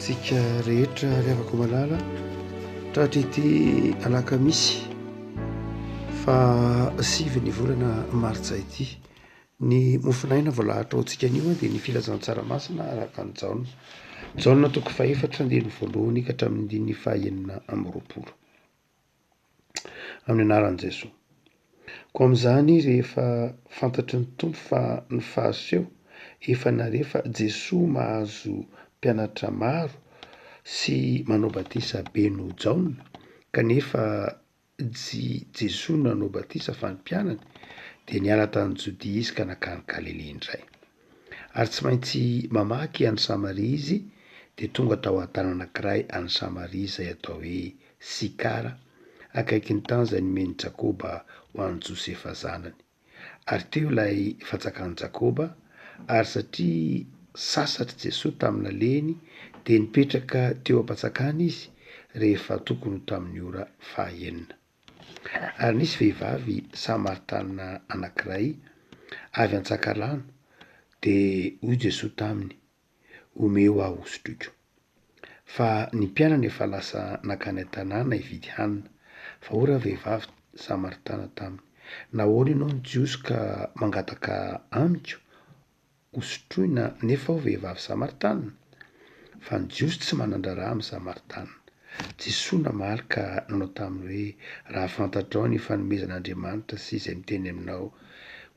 Tsika rehetra ry havako malala tratra ity alakamisy fa sivy ny volana martsa ity ny mofonaina voalahatra ao tsika anio dia ny filazantsara masina araka ny jaona jaona toko fahefatra ny voalohany ka hatramin'ny diny fahenina amroapolo amin'ny anaran'i Jesoa. Koa amin'izany rehefa fantatry ny Tompo fa ny fahaseho efa nare fa Jesoa mahazo mpianatra maro sy manao batisa be noho Jaona kanefa tsy Jesoa no nanao batisa fa ny mpianany dia niala tany Jodia izy ka nankany Galilia indray. Ary tsy maintsy mamaky an'i Samaria izy, dia tonga tao an-tana anankiray any Samaria izay atao hoe Sikara, akaiky ny tany izay nomen'i Jakoba ho an'i Josefa zanany. Ary teo ilay fanjakan'i Jakoba, ary satria sasatr'i Jesoa tamin'alehiny, dia nipetraka teo am-panjakana izy rehefa tokony ho tamin'ny ora fahaenina. Ary nisy vehivavy Samaritana anankiray avy an-tsakarano, dia hoy Jesoa taminy, Omeo aho hosotroiko. Fa ny mpianany efa lasa nankany an-tanàna hividy hanina. Fa hoy ravehivavy Samaritana taminy, Nahoana ianao no tsy hosoka mangataka amiko? Ho sotroina anefa ao vehivavy Samaritana? Fa ny Jiosy tsy manan-draharaha amin'ny Samaritana. Jesoa namaly ka nanao taminy hoe, Raha fantatrao ny fanomezan'Andriamanitra sy izay miteny aminao,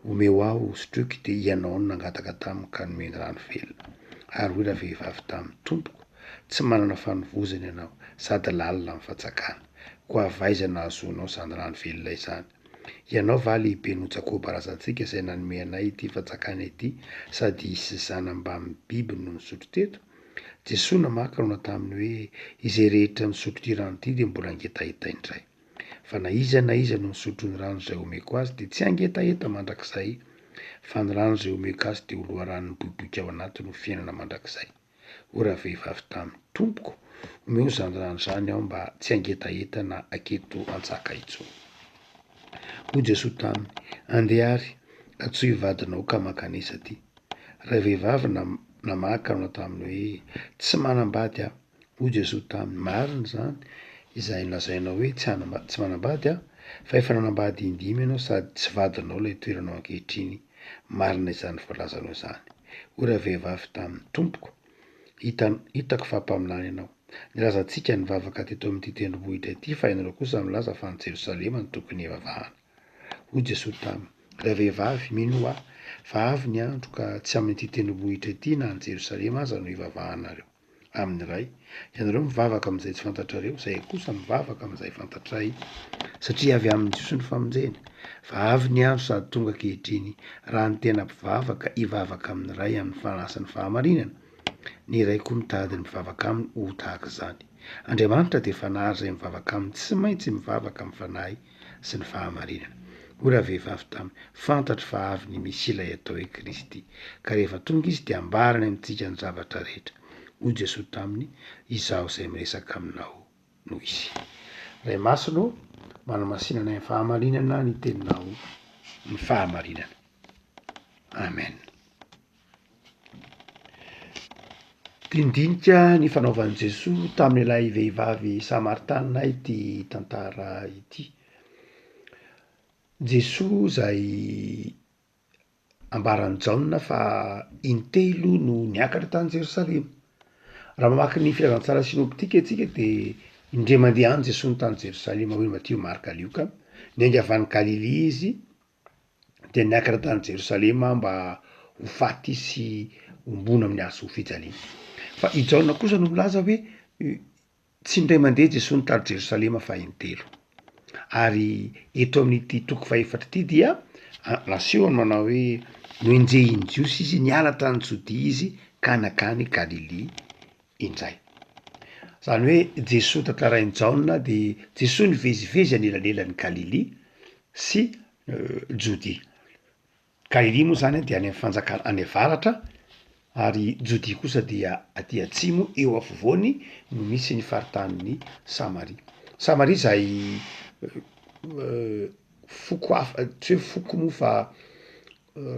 Omeo aho ho sotroiko, dia ianao no nangataka tamiko ka nomeny rano velona. Ary hoy ravehivavy taminy, Tompoko, tsy manana fanovozana ianao, sady lalina amin'ny fatsakana. Koa avy aiza no nahazoanao izany rano velona izany? Ianao va lehibe noho Jakoba razantsika izay nanome anay ity fanjakana ity sady hisy zana mbamin'ny biby no nisotro teto? Jesoa namaky laona taminy hoe, Izay rehetra misotro ity rano ity dia mbola hangetaheta indray. Fa na iza na iza no misotro ny rano izay homeko azy dia tsy hangetaheta mandrakizay, fa ny rano izay homeko azy dia ho loharanony miboiboika ao anatiny ho fiainana mandrakizay. ho ravehivavy taminy. Tompoko, omeo izany rano izany aho mba tsy hangetaheta na haketo an-tsaka intsony. Hoy Jesoa taminy, Andeha ary, antsoy vadinao ka mankanesa aty. Ravehivavy namaka nanao taminy hoe, Tsy manambady aho. Hoy Jesoa taminy, Marina izany izay nolazainao hoe tsy tsy manambady aho, fa efa nanambady in-dimy ianao sady tsy vadinao ilay toeranao ankehitriny. Marina izany voalazanao izany. Hoy ravehivavy taminy, Tompoko, hita, hitako fa mpaminany ianao. Nilazantsika nivavaka teto amin'ity tendrombohitra ity, fa ianareo kosa milaza fa any Jerosalema no tokony hivavahana. Hoy Jesosy taminy, Ravehivavy, minoa Ahy, fa avy ny andro ka tsy amin'ity tendrombohitra ity na any Jerosalema aza no hivavahanareo. amin'ny iray. Ianareo mivavaka amin'izay tsy fantatrareo, izahay kosa mivavaka amin'izay fantatray, satria avy amin'ny Jiosy ny famonjena. Fa avy ny andro sady tonga ankehitriny, raha ny tena mpivavaka hivavaka amin'ny Ray amin'ny fanasan'ny fahamarinana, ny iray koa mitady ny mpivavaka aminy ho tahaka izany. Andriamanitra dia Fanahy ary izay mivavaka aminy tsy maintsy mivavaka amin'ny Fanahy sy ny fahamarinana. Hoy ravehivavy taminy, Fantatro fa avy ny Mesia ilay atao hoe Kristy, ka rehefa tonga izy dia hambarany amintsika ny zavatra rehetra. Hoy Jesoa taminy, Izaho izay miresaka aminao no izy. Ray Masina ô, manamasinanay amin'ny fahamarinana ny teninao, ny fahamarinana. Amen. Dindinika ny fanaovan'i Jesoa tamin'ilay vehivavy Samaritana ity tantara ity. Jesoa izay ambaran'i Jaona fa intelo no niakatra tany Jerosalema. Raha mamaky ny Filazantsara sinoptika antsika dia indray mandeha any Jesoa tany Jerosalema hoy Matio, Marka, Lioka. Niainga avy any Galilia izy dia niakatra tany Jerosalema mba ho faty sy hombona amin'ny hazo fijaliana. Fa i Jaona kosa no milaza hoe tsy indray mandeha Jesoa no tary Jerosalema fa in-telo. Ary eto amin'ity toko fahefatra ity dia nasehony manao hoe noenjehin'ny Jiosy izy, niala tany Jodia izy ka nankany Galilia. indray. Izany hoe Jesoa tantarain'i Jaona dia Jesoa nivezivezy anelanelan'i Galilia sy Jodia. Galilia moa izany dia any amin'ny fanjakana any avaratra ary Jodia kosa dia aty atsimo eo afovoany no misy ny faritanin'i Samaria. Samaria izay foko hafa tsy hoe foko moa fa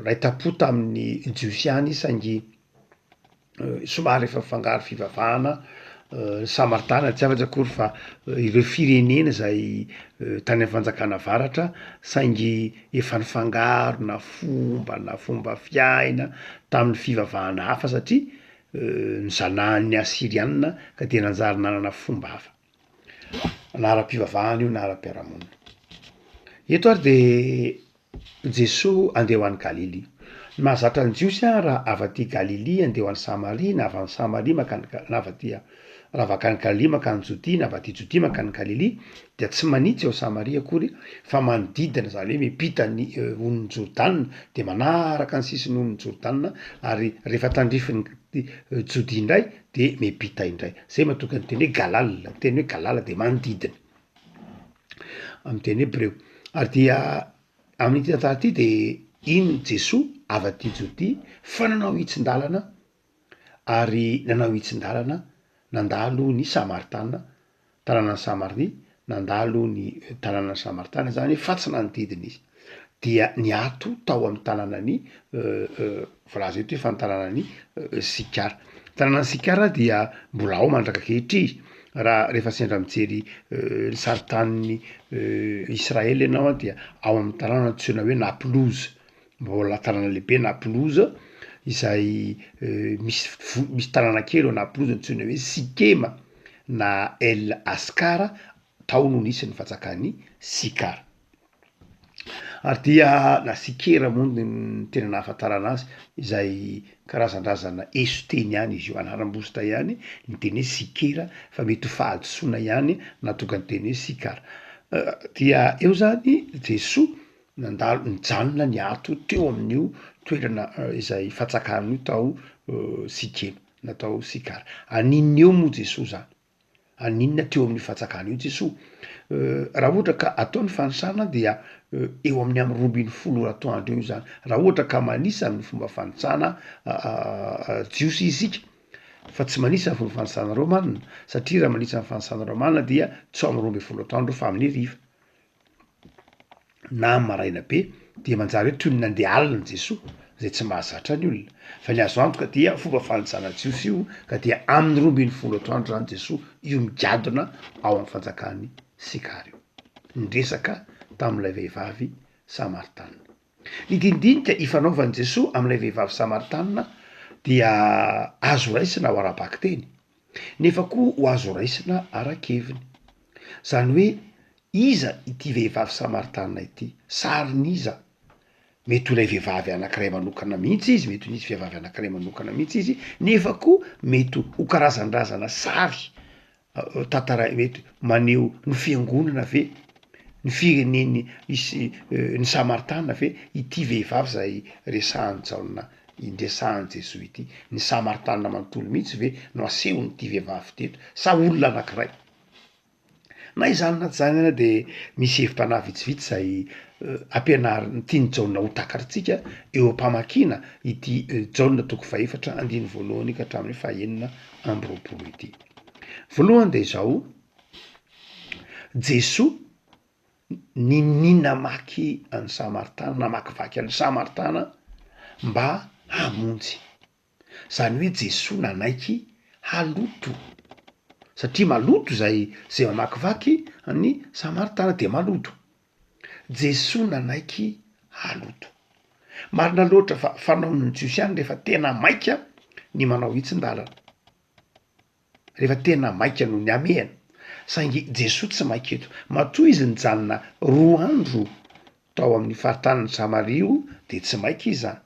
raitapò tamin'ny Jiosy ihany saingy somary efa mifangaro fivavahana ny Samaritana, tsy afaka akory fa ireo firenena izay tany amin'ny fanjakana avaratra saingy efa nifangaro na fomba na fomba fiaina tamin'ny fivavahana hafa satria nizanahan'ny Asiriana ka dia nanjary nanana fomba hafa na ara-pivavahana io na ara-piarahamonina, eto ary de Jesoa, Andeha ho any Galilia. Ny mahazatra ny Jiosy ary raha avy aty Galilia andeha ho any Samaria, na avy any Samaria mankany Ga-, na avy aty, raha avy akany Galilia mankany Jodia, na avy aty Jodia mankany Galilia, dia tsy manitsy ao Samaria akory, fa manodidina, izany hoe miampita ny Onin'i Jordana, dia manaraka ny sisin'ny Onin'i Jordana, ary rehefa tandrifin'i Jodia indray dia miampita indray. Izay mahatonga ny teny hoe Galala, ny teny hoe Galala dia manodidina. amin'ny teny hebreo. Ary dia amin'ity tantara ity de iny Jesoa avy aty Jodia fa nanao hitsin-dalana ary nanao hitsin-dalana nandalo ny Samaritana, tanànan'i Samaria, nandalo ny tanànan'i Samaritana zany fa tsy nanodidina izy. dia niato tao amin'ny tanànan'i voalaza eto fa ny tanànan'i Sikara. Ny tanànan'i Sikara dia mbola ao mandraka ankehitriny raha rehefa sendra mijery ny sarintanin'i Israely ianao dia ao amin'ny tanàna antsoina hoe Naplouse, mbola tanàna lehibe Naplouse izay misy fo- misy tanàna kely ao Naplouse antsoina hoe Sikema na El Askara, tao no nisy ny fanjakan'i Sikara. ary dia la sikera moa ny tena nahafantarana azy izay karazan-drazana eson-teny ihany izy io, anaram-bositra ihany ny teny hoe sikera fa mety ho fahadisoana ihany nahatonga ny teny hoe sikara dia eo zany Jesoa nandalo nijanona niato teo amin'io toerana izay fatsakana io tao sikena na tao sikara, an'inona eo moa Jesoa zany? Haninona teo amin'io fatsakana io Jesoa? Raha ohatra ka atao ny fanisana dia eo amin'ny amin'ny roa ambin'ny folo ora atoandro eo izany. Raha ohatra ka manisa amin'ny fomba fanitsana jiosy isika, fa tsy manisa ny fomba fanisana romana, satria raha manisa ny fanisana romana dia tsy ao amin'ny roa ambin'ny folo atoandro fa amin'ny hariva. na amin'ny maraina be dia manjary hoe toy ny nandeha alina Jesoa zay tsy mahazatra ny olona, fa ny azo antoka dia fomba fanajana jiosy io ka dia amin'ny roa ambin'ny folo atoandro zany Jesoa io migadona ao amin'ny fanjakan'i Sikar io niresaka tamin'ilay vehivavy samaritana. Ny dinidinika ifanaovan'i Jesoa amin'ilay vehivavy Samaritanina dia azo raisina ho ara-bakiteny, nefa koa ho azo raisina ara-keviny. Izany hoe iza ity vehivavy Samaritanina ity? Sarin'iza? Mety ho ilay vehivavy anankiray manokana mihitsy izy, mety ho nisy vehivavy anankiray manokana mihitsy izy, nefa koa mety ho karazan-drazana sary tantaraina eto maneho ny fiangonana ve ny fireneny isy ny samaritana ve ity vehivavy zay resahan'i Jaona resahan'i Jesoa ity, ny samaritana manontolo mihitsy ve no asehon'ity vehivavy ity eto sa olona anankiray? na izany na tsy izany ary de misy hevi-panahy vitsivitsy zay ampianariny tian'i Jaona ho takarintsika eo am-pamakiana ity Jaona toko fahefatra andininy voalohany ka hatramin'ny fahenina amby roapolo ity. Voalohany dia izao, Jesoa nini namaky an'i Samartana, namakivaky an'i Samartana mba hamonjy. Zany hoe Jesoa nanaiky haloto, satria maloto zay zay mamakivaky an'i Samartana dia maloto. Jesoa nanaiky haloto. Marina loatra fa fanaon'ny Jiosy ihany refa tena maika ny manao hitsin-dalana. Rehefa tena maika no nihamehana. Saingy Jesoa tsy maika eto. Matoa Izy nijanona roa andro tao amin'ny faritanin'i Samaria o, dia tsy maika Izy an.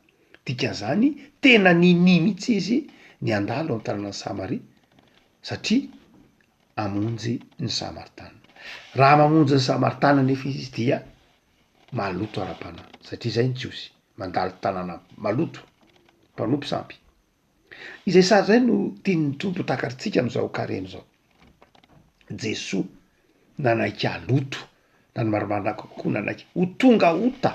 Dikan'izany, tena ninia mihitsy Izy ny handalo ny tanànan'i Samaria, satria hamonjy ny Samaritana. Raha mamonjy ny Samaritana anefa Izy dia maloto ara-panahy, satria izay ny Jiosy, mandalo tanàna maloto, mpanompo sampy. Izay sary izay no tian'ny Tompo ho takarintsika amin'izao Karemy izao. Jesoa nanaiky haloto na ny marimarina kokoa nanaiky ho tonga ota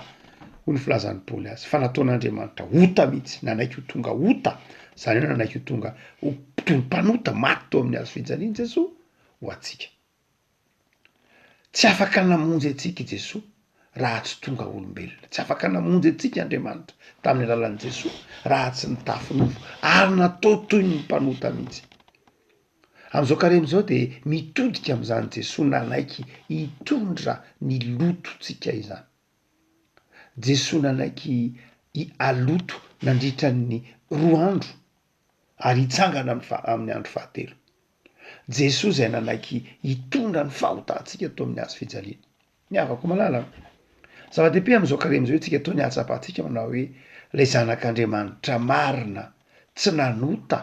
hoy ny filazan'i Paoly azy fa nataon'Andriamanitra ota mihitsy, nanaiky ho tonga ota, izany hoe nanaiky ho tonga ho mpanota maty teo amin'ny hazofijalian'i Jesoa ho antsika. Tsy afaka namonjy antsika i Jesoa raha tsy tonga olombelona. Tsy afaka namonjy antsika Andriamanitra tamin'ny alalan'i Jesoa raha tsy nitafy nofo ary natao toy ny mpanota mihitsy. Amin'izao karemy izao dia mitodika amin'izany Jesoa nanaiky hitondra ny lotontsika izany. Jesoa nanaiky haloto nandritra ny roa andro. ary hitsangana amin'ny fa- amin'ny andro fahatelo. Jesoa izay nanaiky hitondra ny fahotantsika tao amin'ny hazo fijaliana. Ny havako malala, zava-dehibe amin'izao karemy izao isika toa ny hahatsapantsika manao hoe ilay zanak'Andriamanitra marina tsy nanota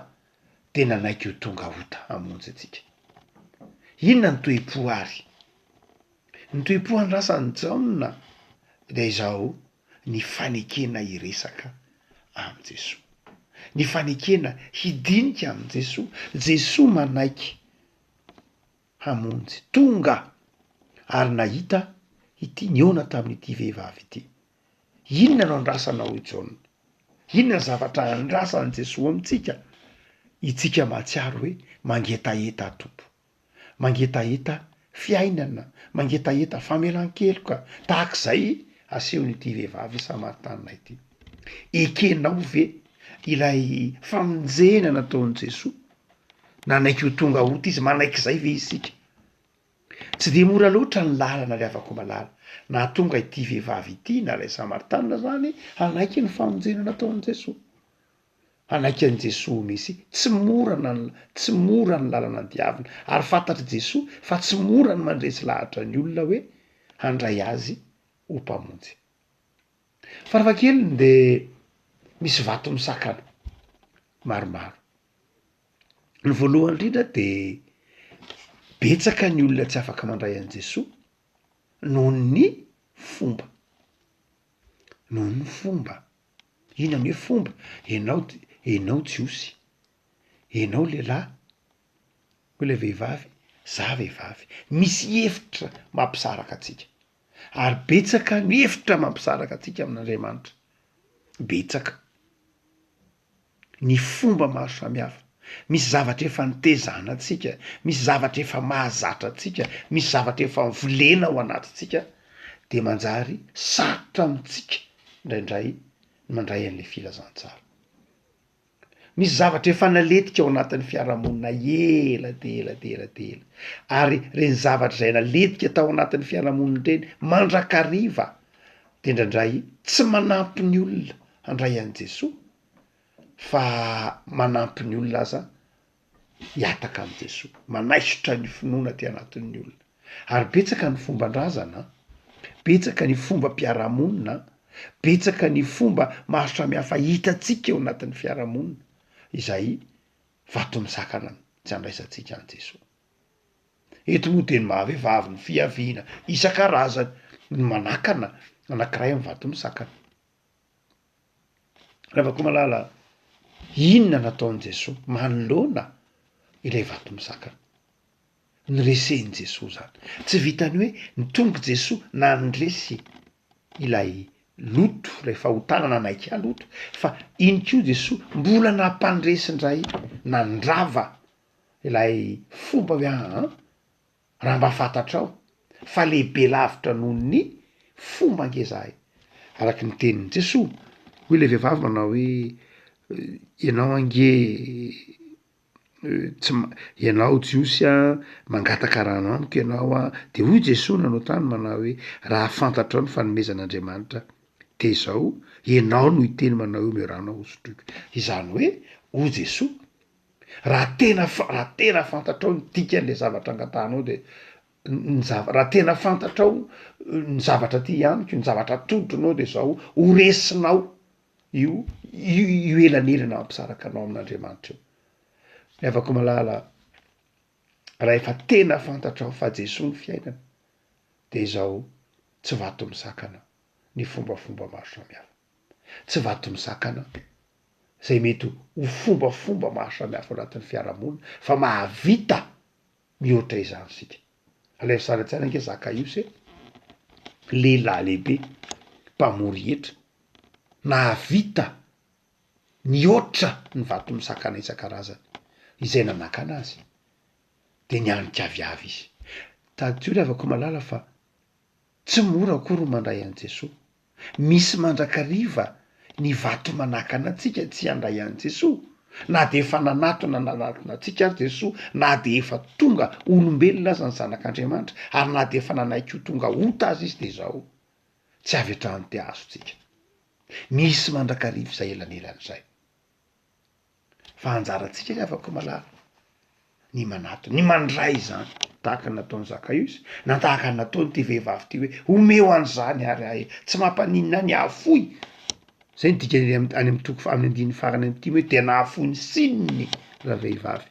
dia nanaiky ho tonga ota hamonjy antsika. Inona ny toe-po ary? Ny toe-po andrasan'i Jaona dia izao, ny fanekena hiresaka amin'i Jesoa, ny fanekena hidinika amin'i Jesoa. Jesoa manaiky hamonjy, tonga ary nahita ity nihaona tamin'ity vehivavy ity. Inona no andrasana hoy Jaona? Inona ny zavatra andrasan'i Jesoa amintsika? Itsika mahatsiaro hoe mangetaheta Tompo. mangetaheta fiainana, mangetaheta famelan-keloka tahaka izay asehon'ity vehivavy Samaritana ity. Ekenao ve ilay famonjena nataon'i Jesoa? Nanaiky ho tonga ota izy, manaiky izay ve isika? Tsy dia mora loatra ny lalana ry havako malala nahatonga ity vehivavy ity na ilay Samaritana izany hanaiky ny famonjena nataon'i Jesoa. Hanaiky an'i Jesoa ho Mesia. Tsy mora na ny tsy mora ny lalana diavina, ary fantatr'i Jesoa fa tsy mora ny mandresy lahatra ny olona hoe handray Azy ho Mpamonjy. Farafahakeliny dia misy vato misakana maromaro. Ny voalohany indrindra dia betsaka ny olona tsy afaka mandray an'i Jesoa noho ny fomba, noho ny fomba Inona ne fomba? Enao enao jiosy, enao lehilahy, hoy ilay vehivavy, za vehivavy. Misy hevitra mampisaraka antsika ary betsaka ny hevitra mampisaraka antsika amin'Andriamanitra, betsaka. ny fomba maro samihafa, misy zavatra efa nitezana antsika, misy zavatra efa mahazatra antsika, misy zavatra efa volena ao anatintsika dia manjary sarotra amintsika indraindray ny mandray an'ilay filazantsara. Misy zavatra efa naletika ao anatin'ny fiarahamonina ela dia ela dia ela dia ela ary ireny zavatra izay naletika tao anatin'ny fiarahamonina ireny mandrakariva dia indraindray tsy manampy ny olona handray an'i Jesoa fa manampy ny olona aza hihataka amin'i Jesoa, manaisotra ny finoana aty anatin'ny olona. Ary betsaka ny fomban-drazana, betsaka ny fombam-piarahamonina, betsaka ny fomba maro samihafa hitantsika eo anatin'ny fiarahamonina izay vato misakana ny tsy handraisantsika an'i Jesoa. Eto moa dia ny maha-vehivavy ny fiaviana isan-karazany no manakana anankiray amin'ny vato misakana. Ravakomalala inona nataon'i Jesoa manoloana ilay vato misakana? Niresen'i Jesoa zany. Tsy vitan'ny hoe nitongy Jesoa nandresy ilay loto ilay fahotana nanaiky haloto fa iny koa Jesoa mbola nampandresy indray nandrava ilay fomba hoe aa. Raha mba fantatrao fa lehibe lavitra noho ny fomba ange zahay araky ny tenin'i Jesoa, hoy ilay vehivavy manao hoe ianao ange tsy ma- ianao Jiosy a mangataka rano amiko ianao a, de hoy Jesoa nanao tany manao hoe raha fantatrao ny fanomezan'Andriamanitra de zao ianao no hiteny manao hoe omeo rano aho hosotroiko, izany hoe hoy Jesoa Raha tena fa- raha tena fantatrao ny dikan'le zavatra angatahanao de ny zava- raha tena fantatrao ny zavatra ty hianiko, ny zavatra atolotronao de zao, ho resinao io io elanelana hampisaraka anao amin'Andriamanitra io. Ry havako malala, rahefa tena fantatrao fa Jesoa ny fiainana de zao, tsy vato misakana ny fombafomba maro samihafa. tsy vato mizakana be, izay mety ho fombafomba maro samihafa ao anatin'ny fiarahamonina fa mahavita mihoatra izany isika. Alaivo sary an-tsaina ange Zakaiosy e, lehilahy lehibe mpamory hetra, nahavita nihoatra ny vato misakana isan-karazany, izay nanakana azy dia nianika avy avy izy. Tadidio ry havako malala fa tsy mora akory ny mandray an'i Jesoa, misy mandrakariva ny vato manakana antsika tsy handray an'i Jesoa, na dia efa nanatona nanatona antsika ary Jesoa, na dia efa tonga olombelona aza ny Zanak'Andriamanitra, ary na dia efa nanaiky ho tonga ota aza Izy dia izao tsy avy hatrany te-hahazo antsika. Misy mandrakariva izay elanelana izay. Fa anjarantsika ry havako malala ny manatona, ny mandray izany tahaka ny nataon'i Zakaiosy na tahaka ny nataon'ity vehivavy ity hoe omeo any zany ary ahy e, tsy mampaninona ahy ny hahafoy, zay no dikany am- any amin'ny toko fa- amin'ny andininy farany am'ty hoe dia nahafoy ny sininy ravehivavy.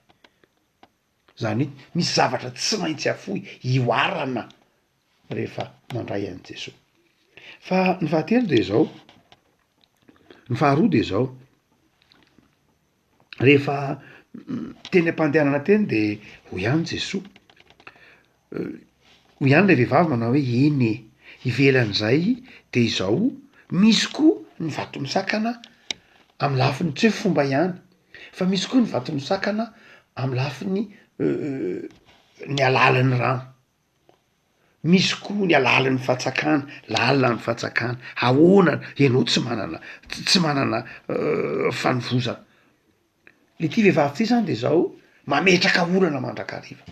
Zany hoe misy zavatra tsy maintsy afoy ihoarana rehefa mandray an'i Jesoa. Fa ny fahatelo de zao, ny faharoa de zao, rehefa teny am-pandehanana teny de hoy ihany Jesoa, Hoy ihany ilay vehivavy manao hoe, Eny e! Ivelan'izay dia izao, misy koa ny vato misakana amin'ny lafiny tsy hoe fomba ihany fa misy koa ny vato misakana amin'ny lafiny ny alalan'ny rano, misy koa ny alalan'ny fatsakana, lalina ny fatsakana, ahoana ianao tsy manana tsy manana fanovozana. Le ty vehivavy ty zany de zao mametraka olana mandrakariva,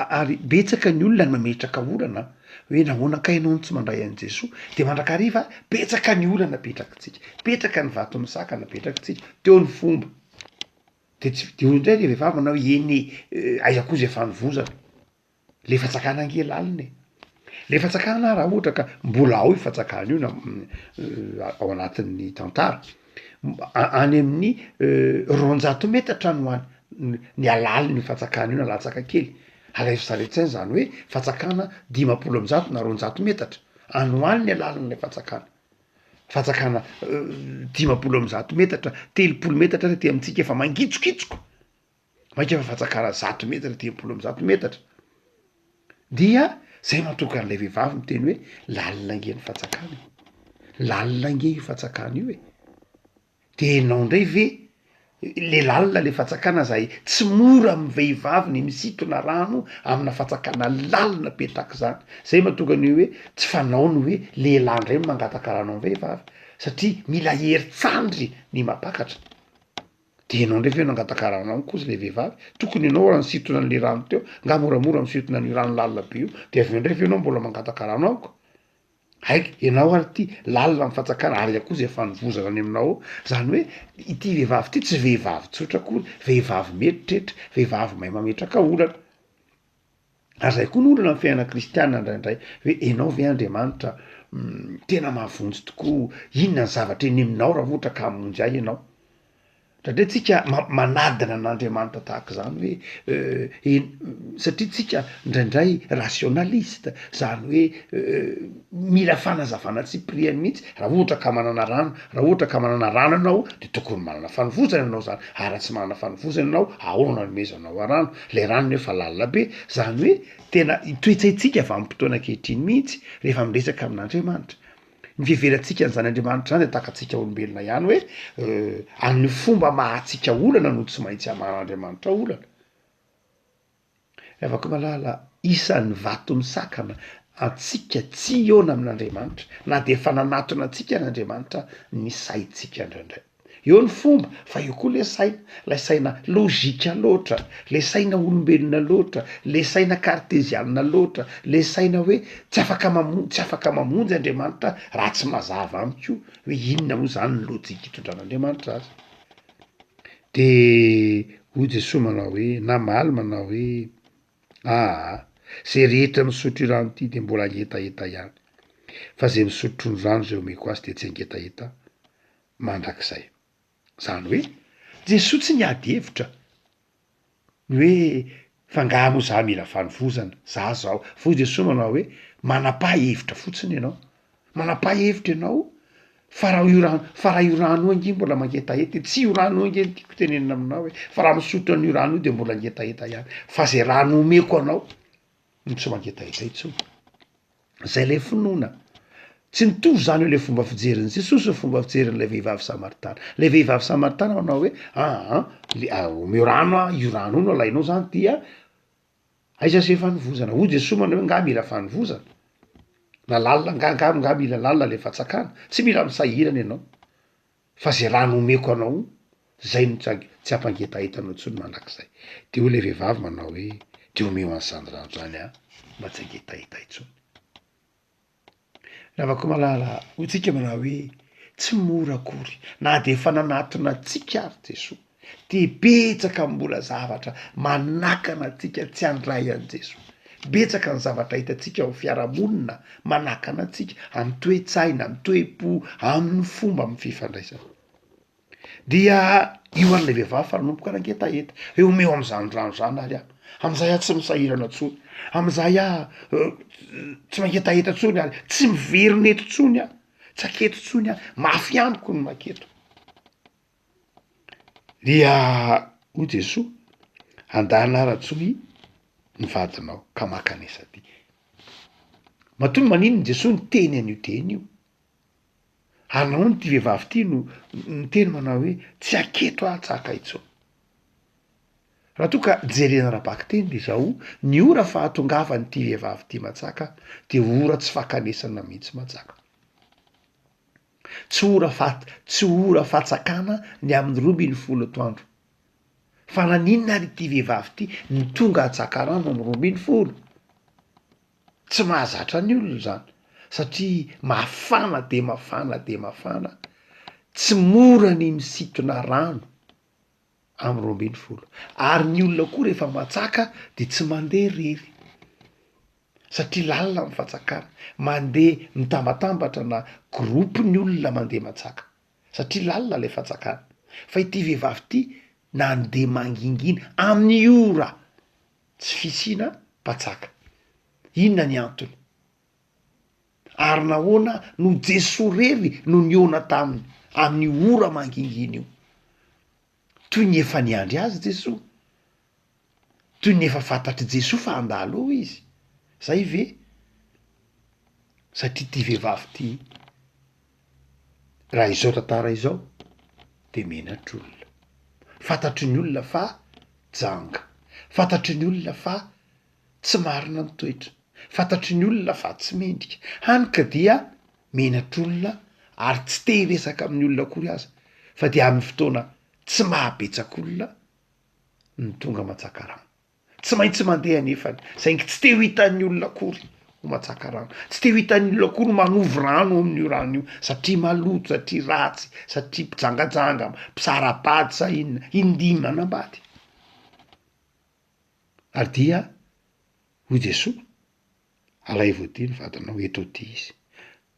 ary betsaka ny olona no mametraka olana hoe nahoana kay ianao no tsy mandray an'i Jesoa de mandrakariva betsaka ny olana apetrakintsika, petraka ny vato misakana apetrakintsika teo ny fomba de tsy de hoy ndray le vehivavy manao hoe eny e aiza koa zay fanovozana. le fatsakana nge lalina e, le fatsakana ara ohatra ka mbola ao io fatsakana io na ao anatin'ny tantara any amin'ny roanjato metatra no any ny alalin'io fatsakana io na latsaka kely alaivo saretsay zany hoe fatsakana dimampolo am'zato na roanjato metatra any ho any ny alalin'ilay fatsakana fatsakana dimampolo am'zato metatra telopolo metatra ary aty amintsika efa mangitsokitsoka. Maika efa fatsakara zato metatra telopolo amby zato metatra dia zay matoka an'ilay vehivavy miteny hoe lalina ange ny fatsakana e, lalina ange io fatsakana io e, de enao ndray ve le lalina le fatsakana zay tsy mora amy vehivavy ny misintona rano amina fatsakana lalina be tahak'izany, zay matoka ny hoe tsy fanao ny hoe lehilahy ndray no mangataka rano amy vehivavy satria mila herin-tsandry ny mampakatra. De enao ndray ve nangatakarana amiko ozy le vehivavy, tokony enao raha nisintona anle rano teo, nga moramora misintona anio rano lalina be io, de aveo ndray ve enao mbola mangataka rano amiko, aiko enao ary ty lalina am fatsakana ary iah koa ze fanovozana any aminao ao, zany hoe ity vehivavy ty tsy vehivavy tsotra akory, vehivavy mieritreritra, vehivavy mahay mametraka olana. Ary izay koa no olana amin'ny fiainana kristianina indraindray hoe ianao ve Andriamanitra tena mahavonjy tokoa, inona ny zavatra eny aminao raha ohatra ka hamonjy ahy ianao? Indraindray tsika ma- manadina an'Andriamanitra tahaka izany hoe en- satria tsika indraindray rationaliste, zany hoe mila fanazavana tsipiriany mihitsy, raha ohatra ka manana rano, raha ohatra ka manana rano ianao de tokony manana fanovozana ianao zany ary raha tsy manana fanovozana ianao ahoana no anomezanao a rano? Ilay rano ny hoe fa lalina be, izany hoe tena ny toe-tsaintsika vanim-potoana ankehitriny mihitsy rehefa miresaka amin'Andriamanitra. Ny fiheverantsika an'izany Andriamanitra izany dia tahaka antsika olombelona ihany hoe amin'ny fomba maha-antsika olana no tsy maintsy hamahan'Andriamanitra olana. Ry havako malala, isan'ny vato misakana antsika tsy hihaona amin'Andriamanitra na dia efa nanatona antsika ary Andriamanitra ny saintsika indraindray. Eo ny fomba fa eo koa le saina, lay saina logika loatra, le saina olombelona loatra, le saina kartezianina loatra, le saina hoe tsy afaka mamonjy tsy afaka mamonjy Andriamanitra raha tsy mazava amiko hoe inona moa zany ny lojika itondran'Andriamanitra azy. De hoy Jesoa manao hoe, namaly manao hoe. Aa! Ze rehetra misotro irano ty de mbola angetaheta ihany. Fa ze misotro ny rano ze omeko azy de tsy angetaheta mandrakizay. Zany hoe Jesoa tsy niady hevitra ny hoe fa nga mo za mila fanovozana, za zao. Fa hoy Jesoa manao hoe, manapaha hevitra fotsiny ianao Manam-pahefitra ianao fa raha io rano fa raha io rano io ange mbola mangetaheta e, tsy io rano io ange no tiako tenenina aminao e fa raha misotro an'io rano io de mbola ngetaheta ihany fa zay rano omeko anao no tsy mangetaheta intsony, zay lay finoana. Tsy mitovy zany eo le fomba fijerin'i Jesosy sy ny fomba fijerin'ilay vehivavy samaritana, le vehivavy samaritana manao hoe aa le omeo rano a, io rano io no alainao zany dia. Aiza se fanovozana? Hoy Jesoa manao hoe nga mila fanovozana? Na lalina nga nga nga mila lalina le fatsakana? Tsy mila misahirana ianao fa ze raha nomeko anao zay no tsy ampangetahetanao intsony mandrakizay. De hoy le vehivavy manao hoe de omeo an'zany rano zany aho mba tsy hangetaheta intsony. Ravakomalala, hoy tsika manao hoe tsy mora akory na de efa nanatona antsika ary Jesoa de betsaka mbola zavatra manakana antsika tsy handray an'i Jesoa, betsaka ny zavatra hitantsika ao fiarahamonina manakana antsika amin'ny toe-tsaina, amin'ny toe-po, amin'ny fomba amin'ny fifandraisana. Dia io ary ilay vehivavy fa nanomboka nangetaheta, hoe omeo amin'izany rano izany ary aho, amin'izay aho tsy misahirana intsony, amin'izay aho tsy mangetaheta intsony ary tsy miverina eto intsony aho, tsy haketo intsony aho, mafy amiko ny maketo. Dia hoy Jesoa, andana ary antsoy ny vadinao ka maka an'isa ty. Matoa maninona Jesoa niteny an'io teny io? Anaony ity vehivavy ity no niteny manao hoe tsy haketo aho tsaka intsony. Raha toa ka jerena ara-bakiteny dia izao, ny ora fahatongavan'ity vehivavy ity Mantsaka dia ora tsy fakanesana mihitsy Mantsaka. Tsy ora fa tsy ora fatsakana ny amin'ny roa ambin'ny folo atoandro. Fa naninona ary ity vehivavy ity no tonga atsakarano amin'ny roa ambin'ny folo? Tsy mahazatra ny olona izany satria mafana dia mafana dia mafana, tsy mora ny misintona rano amin'ny roa ambin'ny folo ary ny olona koa rehefa matsaka dia tsy mandeha irery satria lalina ny fatsakana, mandeha mitambatambatra na groupe ny olona mandeha matsaka satria lalina ilay fatsakana fa ity vehivavy ity nandeha mangingina amin'ny ora tsy fisiana mpanjaka. Inona ny antony? Ary nahoana no Jesoa rery no nihaona taminy amin'io ora mangingina io? Toy ny efa niandry azy Jesoa? Toy ny efa fantatr'i Jesoa fa handalo eo izy? Zay ve? Satria ty vehivavy ty raha izao tantara izao de menatr'olona. Fantatry ny olona fa janga, fantatry ny olona fa tsy marina ny toetra, fantatry ny olona fa tsy mendrika, hany ka dia menatr'olona ary tsy te hiresaka amin'ny olona akory aza fa dia amin'ny fotoana tsy maha betsak'olona no tonga mantsaka rano. Tsy maintsy mandeha anefany, saingy tsy te ho hitan'ny olona akory ho matsaka rano. Tsy te ho hitan'ny olona akory manovo rano ao amin'io rano io, satria maloto, satria ratsy, satria mpijangajanga, mpisara-bady sa inona. Indimy manambady. Ary dia hoy Jesoa, Alaivo aty ny vadinao, eto aty izy.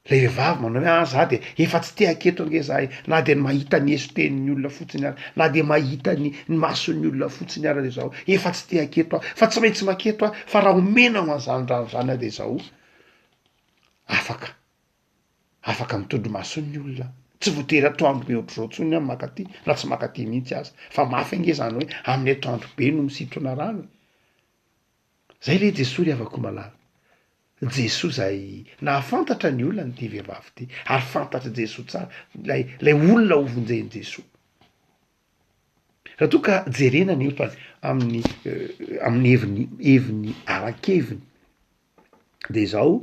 Ilay vehivavy manao hoe ah za de efa tsy te haketo ange za e, na de ny mahita ny esotehin'ny olona fotsiny ara, na de mahita ny ny mason'ny olona fotsiny ara de zaho efa tsy te haketo aho, fa tsy maintsy maketo aho fa raha omena ho an'zany rano zany aho de zaho afaka afaka ny tondromason'ny olona, tsy voatery atoandro be ohatr'zao tsony aho maka aty na tsy maka aty mihitsy aza, fa mafy ange zany hoe amin'ny atoandro be no misintona rano e. Zay le Jesoa ry havako malala. Jesoa izay nahafantatra ny olany ity vehivavy ity ary fantatr'i Jesoa tsara ilay ilay olona ho vonjen'i Jesoa. Raha toa ka jerena ny otany amin'ny amin'ny heviny heviny ara-keviny de izao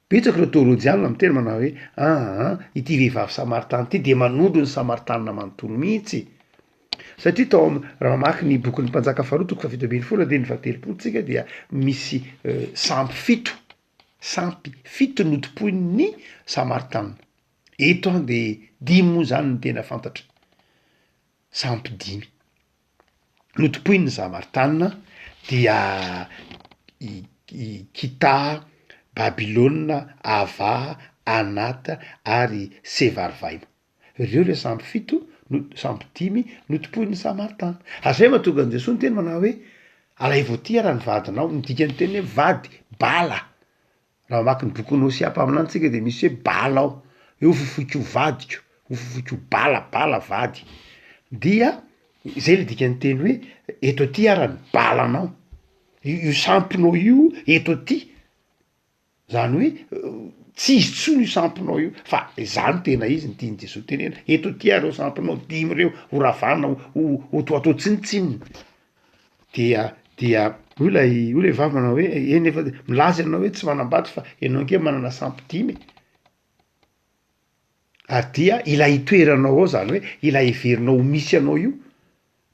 betsaka ireo teolojianina miteny manao hoe aa ity vehivavy samaritana ity de manondro ny samaritana manontolo mihitsy. Satria tao am raha mamaky ny bokin'ny Mpanjaka faharoa toko fahafito ambin'ny folo andininy fahatelopolo tsika dia misy sampy fito sampy fito notompoin'ny Samaritaina. Eto an de dimy moa zany no tena fantatra sampy dimy notompoin'ny Samaritaina dia i Kita, Babilôna, Ava, Anata ary Sevarivaina. Ireo ilay sambo fito, sambo dimy notompoin'ny Samaritana. Ary izay no mahatonga an'i Jesoa niteny manao hoe, Alaivo aty ary ny vadinao. Ny dikan'ny teny hoe vady, bala. Raha mamaky ny bokin'i Hosea mpaminany tsika dia misy hoe bala ao, hoe hofofoiko ho vadiko, hofofoiko ho bala, bala vady. Dia izay ilay dikan'ny teny hoe, eto aty ary ny balanao, io samponao io eto aty. Zany hoe tsy izy tsony io sampinao io fa za no tena izy ny tian'i Jesoa tenena, eto aty ary reo sampinao dimy reo ho ravana ho ho to atao tsinontsinona dia dia hoy lay hoy le vavy manao hoe eny efa milaza ianao hoe tsy manambady fa ianao ange manana sampy dimy e, ary dia ilay itoeranao ao zany hoe ilay heverinao ho misy anao io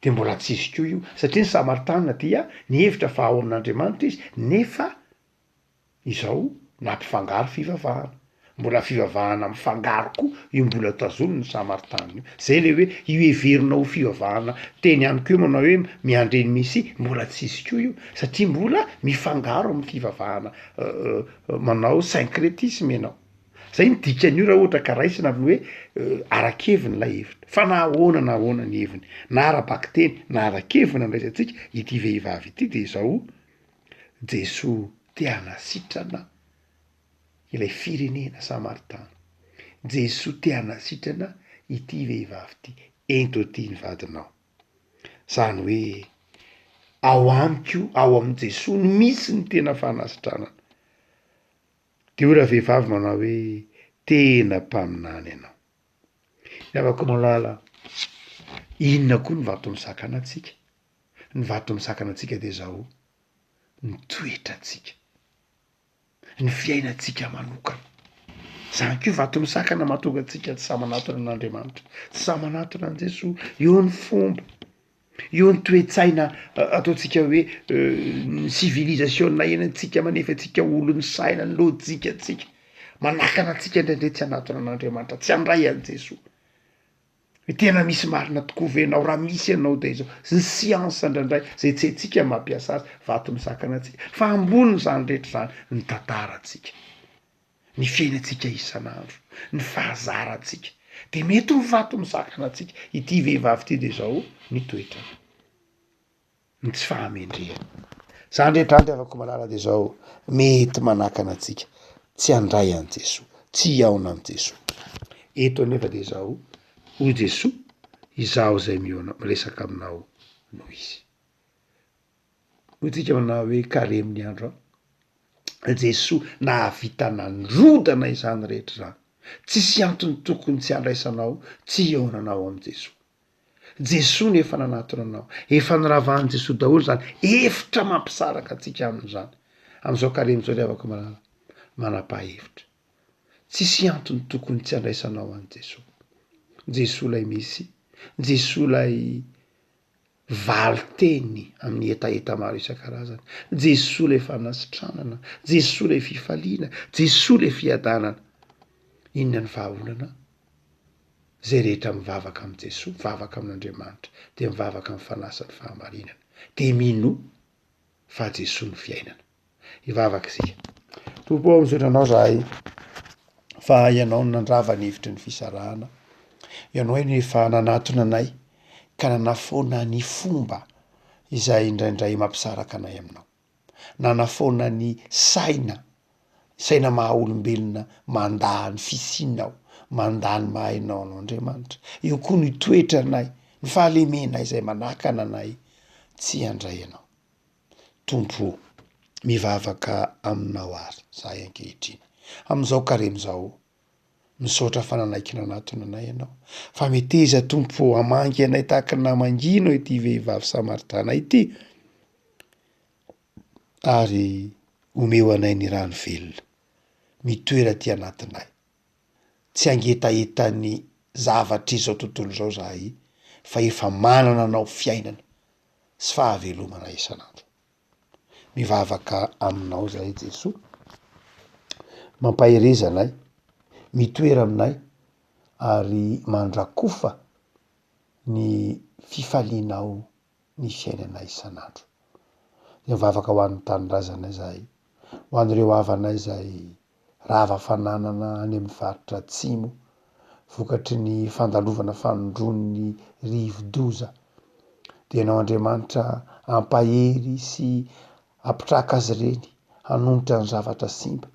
de mbola tsisy ko io satria ny samaritana dia nihevitra fa ao amin'Andriamanitra izy nefa izao nampifangaro fivavahana, mbola fivavahana mifangaro koa io mbola tazonin'ny Samaritanin io, zay le hoe io heverina ho fivavahana teny amiko io manao hoe miandre ny Mesia mbola tsy hisy koa io satria mbola mifangaro amin'ny fivavahana manao syncretisme ianao, zay ny dikan'io raha ohatra ka raisina amin'ny hoe ara-keviny lay heviny, fa na ahoana na ahoana ny heviny na ara-bakiteny na ara-keviny andraisantsika ity vehivavy ity de zao. Jesoa te hanasitrana ilay firenena Samaritana. Jesoa te hanasitrana ity vehivavy ity, ento aty ny vadinao. Zany hoe ao amiko, ao amin'i Jesoa no misy ny tena fanasitranana. De hoy ravehivavy manao hoe tena mpaminany ianao. Ry havako malala, inona koa no vaton'ny sakana antsika? Ny vato misakana antsika dia izao, ny toetrantsika, ny fiainantsika manokana. Izany koa vato misakana mahatonga antsika tsy sahy manatona an'Andriamanitra, tsy sahy manatona an'i Jesoa. Eo ny fomba, eo ny toe-tsaina ataontsika hoe ny sivilizasiona iainantsika manefa antsika ho olon'ny saina, ny lojikantsika, manakana antsika indraindray tsy hanatona an'Andriamanitra, tsy handray an'i Jesoa. Tena misy marina tokoa ve enao raha misy enao de zao ny siansa ndraindray zay tsy haintsika mampiasa azy vato misakana antsika fa ambony zany rehetra zany ny tantarantsika ny fiainantsika isan'andro ny fahazarantsika de mety ho vato misakana antsika ity vehivavy ity de zao ny toetrany. ny tsy fahamendrehany. Zany rehetra zany ry havako malala de zao mety manakana antsika tsy handray an'i Jesoa, tsy hihaona amin'i Jesoa, eto anefa de zao hoy Jesoa izaho zay mihaona miresaka aminao no izy, hoy tsika aminah hoe karemy ny andro an, i Jesoa nahavita nandrodana izany rehetra zany, tsisy antony tokony tsy handraisanao tsy hihaonanao amin'i Jesoa, Jesoa no efa nanatona anao. Efa noravahan'i Jesoa daholo izany hevitra mampisaraka antsika aminy izany. Amin'izao karemy izao ry havako malala, manam-pahefitra. Tsisy antony tokony tsy handraisanao an'i Jesoa. Jesoa ilay misy, Jesoa ilay valin-teny amin'ny hetaheta maro isan-karazany. Jesoa ilay fanasitranana, Jesoa ilay fifaliana, Jesoa ilay fiadanana. Inona ny vahaolana? Izay rehetra mivavaka amin'i Jesoa, mivavaka amin'Andriamanitra, dia mivavaka amin'ny Fanahy sy ny fahamarinana, dia mino fa Jesoa no fiainana. Hivavaka isika. Tompo ô, misaotra Anao izahay fa Ianao no nandrava ny hevitry ny fisarahana. Ianao no efa nanatona anay ka nanafoana ny fomba izay indraindray mampisaraka anay Aminao. nanafoana ny saina, saina maha olombelona mandà ny fisianao, mandà ny maha enao anao Andriamanitra. Eo koa ny toetranay, ny fahalemenay zay manakana anay tsy handray anao. Tompo o, mivavaka aminao ary zahay ankehitriny, am'zao karemy zao Misaotra fananaikinao natony anay ianao fa meteza tompo ô hamangy anay tahaka ny namangianao ity vehivavy samaritana ity ary omeo anay ny rano velona mitoera aty anatinay tsy hangetahetan'ny zavatr'izao tontolo izao zahay fa efa manana anao fiainana sy fahavelomana isan'andro. Mivavaka aminao zahay Jesoa, mampahereza anay, mitoera aminay ary mandrakofa ny fifalianao ny fiainanay isan'andro. Mivavaka ho an'ny tanindrazana izahay, ho an'ireo havanay izay rava fananana any amin'ny faritra Atsimo vokatry ny fandalovana fanondron'ny rivodoza. Denao Andriamanitra hampahery sy hampitraka azy ireny hanonitra ny zavatra simba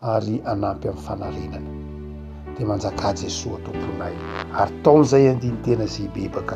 ary hanampy amin'ny fanarenana. Dia manjakà Jesoa Tomponay ary taon'izay andinin-tena izay bebaka.